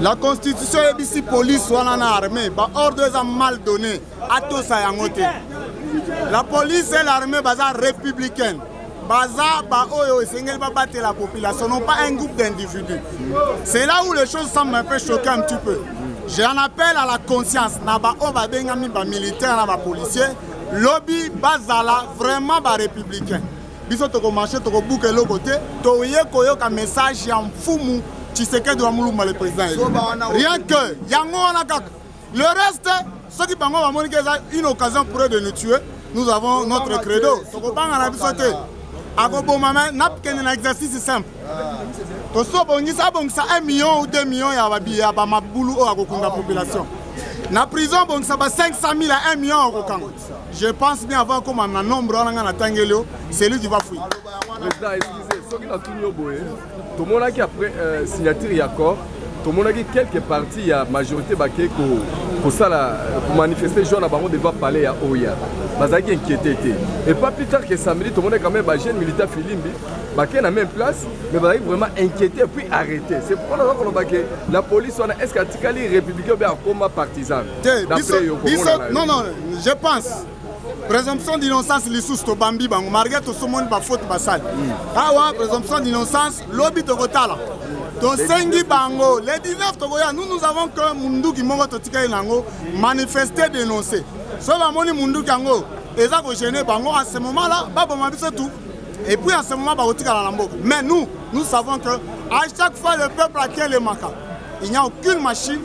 La constitution ebisi police wana na armée ba ordre eza mal donné atosa yango te. La police et l'armée baza républicaine. baza baoyo esengeli babatela population non pas un groupe d'individus c'est là où les choses semblent un peu choquer un petit peu j'ai un appel à la conscience na baoyo babengami bamilitaire na bapolicier lobi bazala vraiment barépublicain Biso toko marche toko buka eloko te. Toye koyoka message ya mfumu Tshisekedi wa Mulumba le président. Rien que yango wana kaka. Le reste soki bango bamoni ke eza une occasion pour eux de nous tuer, nous avons notre credo. Tokobanga na biso te. Akoboma mais nakende na exercice simple. Tosi obongisa abongisa 1 million ou 2 millions ya babi ya bamabulu oyo akokunda population. Na prison abongisa ba 500 000 à 1 million akokanga. Je pense bien avant akoma na nombre wana nga natangeli yo c'est lui qui va fuir. Président, excusez, soki natuni yo boye tomonaki après euh, signature ya accord tomonaki quelques parties ya majorité bakei kosala komanifeste jour na bango devant palais ya oya bazalaki inquiété te et pas plus tard que samedi tomonaki quand même bajeune militaire filimbi bakei na même place mais bazalaki vraiment inquiété puis arrêté c'est pourquoi naza koloba ke la police wana est ce que atikali républicain obe akoma partisan te biso biso non non je pense présomption d'innocence lisusu tobambi bango malgré tosomoni bafaute basali hmm. awa présomption d'innocence lobi tokotala tosengi bango le 19 tokoya nous nous avons que munduki moko totikali na yango manifeste dénonce soki bamoni munduki yango eza kogene bango à ce moment là baboma biso tout Et puis en ce moment, bah, mais nous, nous savons que à chaque fois le peuple a quel les maca. Il n'y a aucune machine,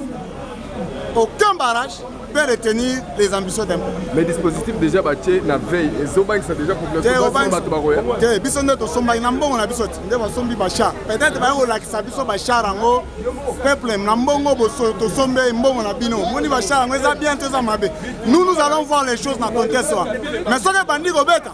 aucun barrage peut retenir les ambitions d'un peuple. Mais dispositif déjà bâti na veille et Zobank ça déjà pour le peuple. Te biso nde to somba na mbongo na biso nde ba sombi ba char. Peut-être ba yo lakisa biso ba char yango peuple na mbongo bo so to sombe mbongo na bino. Moni ba char yango eza bien to eza mabe. Nous nous allons voir les choses na contexte. Mais soki bandi ko beta